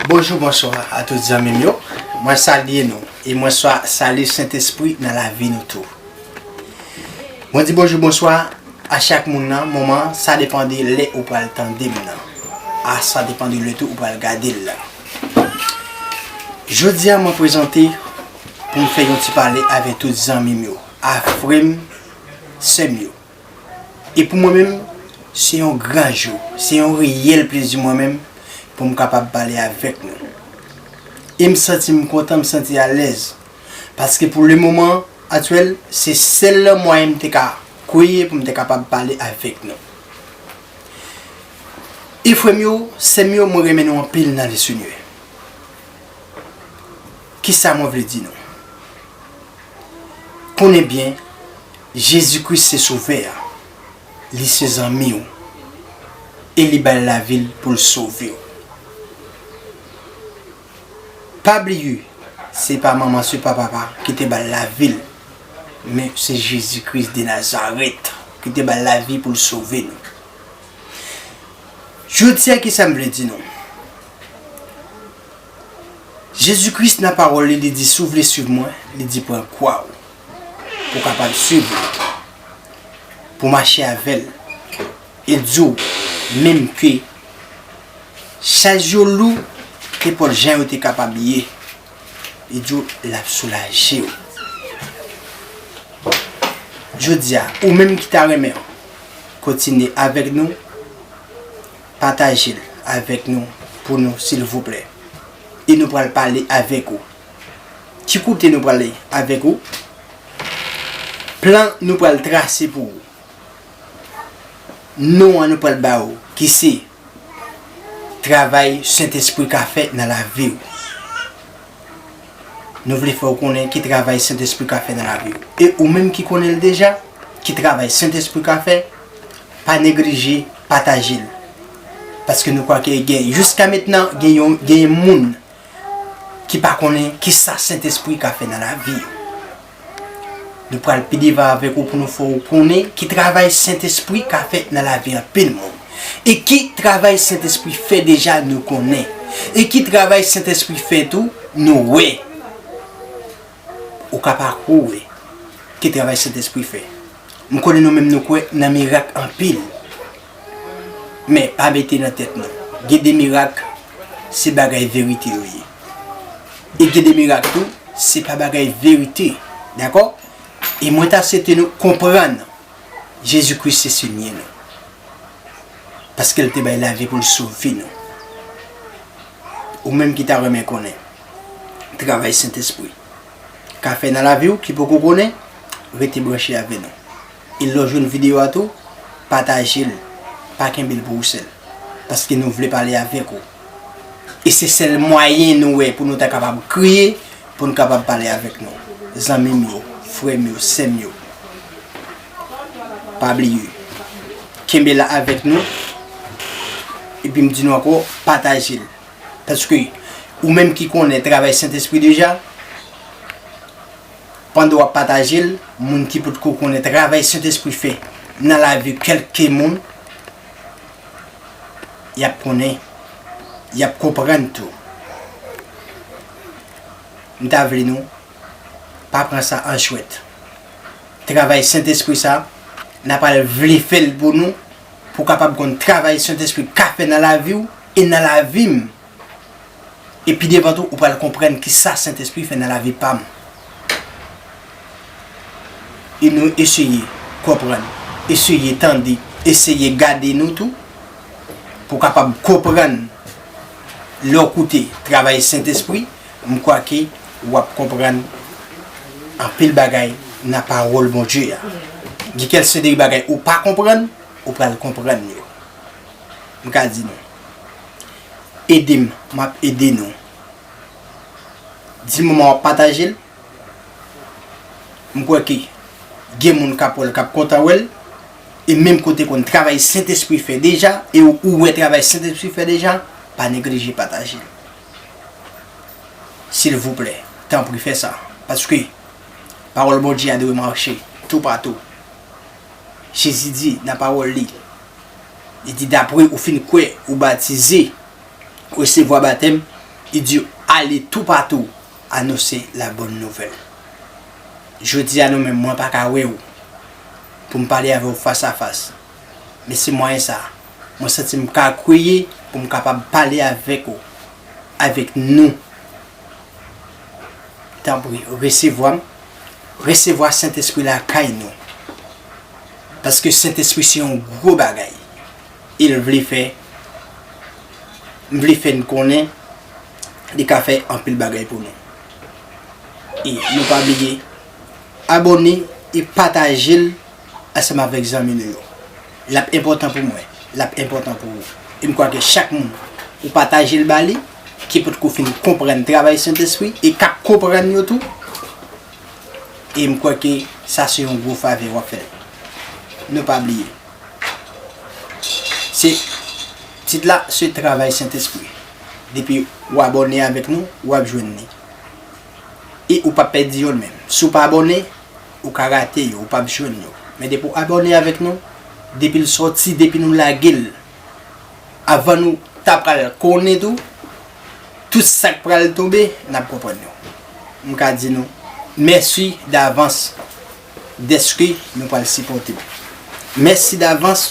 Bonjou bonswa a tout zanmim yo mwen salye nou e mwen salye sentespri nan lavi nou tou mwen di bonjou bonswa A chak moun nan moman sa depan de lè ou pral tandem nan a sa depan de lè tou ou pral gadel la jodia mwen prezante poum fè yon ti pale avè tout zanmim yo a frèm sèm yo e pou mwen menm se yon gran jou se yon reyèl plezi mwen menm poum kapab pale avèk nou em santim kontan m santi alèz. Paske pou le moman aktyèl, se sèl mwayen m te ka kwè pou m te kapab pale avèk nou. E frè m yo, sè m yo, mwen renmen nou anpil nan Lesenyè. Kisa mwen vle di nou? Konnen byen, Jezi Kris se Sovè a, Li se zanmi ou, e Li bay lavi L pou L sove ou. Pa bliye se pa manman se pa papa ki te bal lavil men se Jezi Kris de Nazarèt ki te bal lavi poul sove nou. Jodia kisa m vle di nou? Jezi Kris nan pawòl li li di si w vle swiv mwen li di pran kwa w pou kapab swiv li pou mache avèl. Yo di w menm ke chaj yo lou, kenpòt jan yo te kapab ye, yo di w l ap soulaje w. Jodi a, ou menm ki ta renmen kontinye avèk nou, pataje l avèk nou pou nou silvouplè. E nou pral pale avèk ou. Ki kote nou prale avèk ou? Plan nou pral trase pou ou. non an nou pral ba ou ki se travay Sentespri ka fè nan lavi ou. Nou vle fè ou konnen ki travay Sentespri ka fè nan lavi ou. E ou menm ki konnen l deja, ki travay Sentespri ka fè, pa neglije pataje l. Paske nou kwè ke gen jiska mentnan gen yon gen moun ki pa konnen ki sa Sentespri ka fè nan lavi yo. Nou pral pi devan avèk ou pou nou fè ou konnen ki travay Sentespri ka fè nan lavi anpil moun. E ki travay Sentespri fè deja nou konnen. E ki travay Sentespri fè tou nou wè. Ou ka pa kwè ou wè ki travay Sentespri fè. M konnen nou menm nou kwè nan mirak anpil. Men, pa mete nan tèt nou, gen de mirak, se bagay verite yo ye. E gen de mirak tou, se pa bagay verite. Dakò? E mwen ta swete nou konprann Jezi Kris se Senyè nou. Paske l te bay lavi pou l sove nou. Ou menm ki ta renmen konnen travay Sentespri ka fè nan lavi w, ki poko konnen, rete branche avè nou. e lè w jwenn video a tou pataje l pa kenbe l pou ou sèl paske nou vle pale avèk ou e se sèl mwayen nou wè pou nou ta kapab kreye pou n kapab pale avèk nou zanmi m yo frè m yo sè m yo pa bliye kenbe la avèk nou epi m di nou ankò pataje l paske ou menm ki konnen travay sentespri deja. pandan wap pataje l moun ki potko konnen travay Sentespri fè nan lavi kelke moun yap konnen yap konprann tou m ta vle nou pa pran sa an jwèt travay Sentespri sa na pral vle fè l pou nou pou kapab konn travay Sentespri ka fè nan lavi w e nan lavi m. E pi devan tou ou pral konprann ki sa Sentespri fè nan lavi pam. E nou eseye konprann, eseye tande, eseye gade nou tou pou w kapab konprann. Lè w koute travay Sentespri, m kwa ke w ap konprann anpil bagay nan pawòl Bondye a. Gen kèlse de bagay ou pa konprann, ou pral konprann yo. m ka di nou. Ede m, m ap ede nou. Di moman w ap pataje l. M kwè ke gen moun k ap wè l, k ap kontan wè l. E menm kote konn travay Sentespri fè deja, e ou wè travay Sentespri fè deja, pa neglije pataje l. Silvouplè, tanpri fè sa. Paske, pawòl Bondye a dwe mache toupatou. Jezi di nan pawòl li, Li di dapre ou fin kwè, ou batize, ou resevwa batèm, li di ale toupatou anonse la bòn nouvèl. Jodi a nou menm mwen pa ka wè ou pou m pale avè ou fas a fas, men se mwayen sa a mwen santi m ka kweye pou m kapab pale avèk ou, avèk nou Tanpri, resevwa m. Resevwa Sentespri lakay nou. Paske Sentespri se yon gwo bagay. E l vle fè, m vle fè n konnen, li ka fè anpil bagay pou nou. E nou pa bliye abòne e pataje l ansanm avèk zanmi nou yo. L ap enpòtan pou mwen, l ap enpòtan pou ou. E m kwè ke chak moun ou pataje l ba li, ki potko fin konprann travay Sentespri e kap konprann yo tou, e m kwè ke sa se yon gwo favè wap fè yo. Nou pa bliye, se, tit la se travay Sentespri. Depi ou abòne avèk nou, wap jwenn li. E ou pap pèdi yo menm. Si w pa abòne, ou ka rate yo, ou pap jwenn yo. Men depi w abòne avèk nou, depi l sòti, depi nou lage l, avan nou ta pral konnen tou tout sak pral tonbe nap konprann yo m ka di nou mèsi davans dèske nou pral sipòte m mèsi davans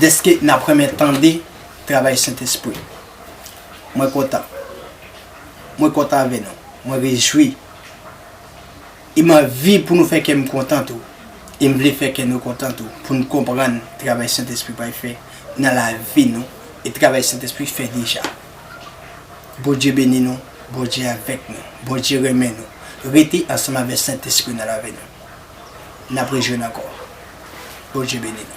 dèske nap renmen tande travay sentespri mwen kontan mwen kontan avè nou mwen rejwi. E m anvi pou nou fè kè m kontan tou. E m vle fè kè nou kontan tou pou n konprann travay Sentespri pral fè nan lavi nou e travay Sentespri fè deja. Bondye beni nou, Bondye avèk nou, Bondye renmen nou. Rete ansanm avè Sentespri nan lavi nou. N ap rejwenn ankò. Bondye beni nou.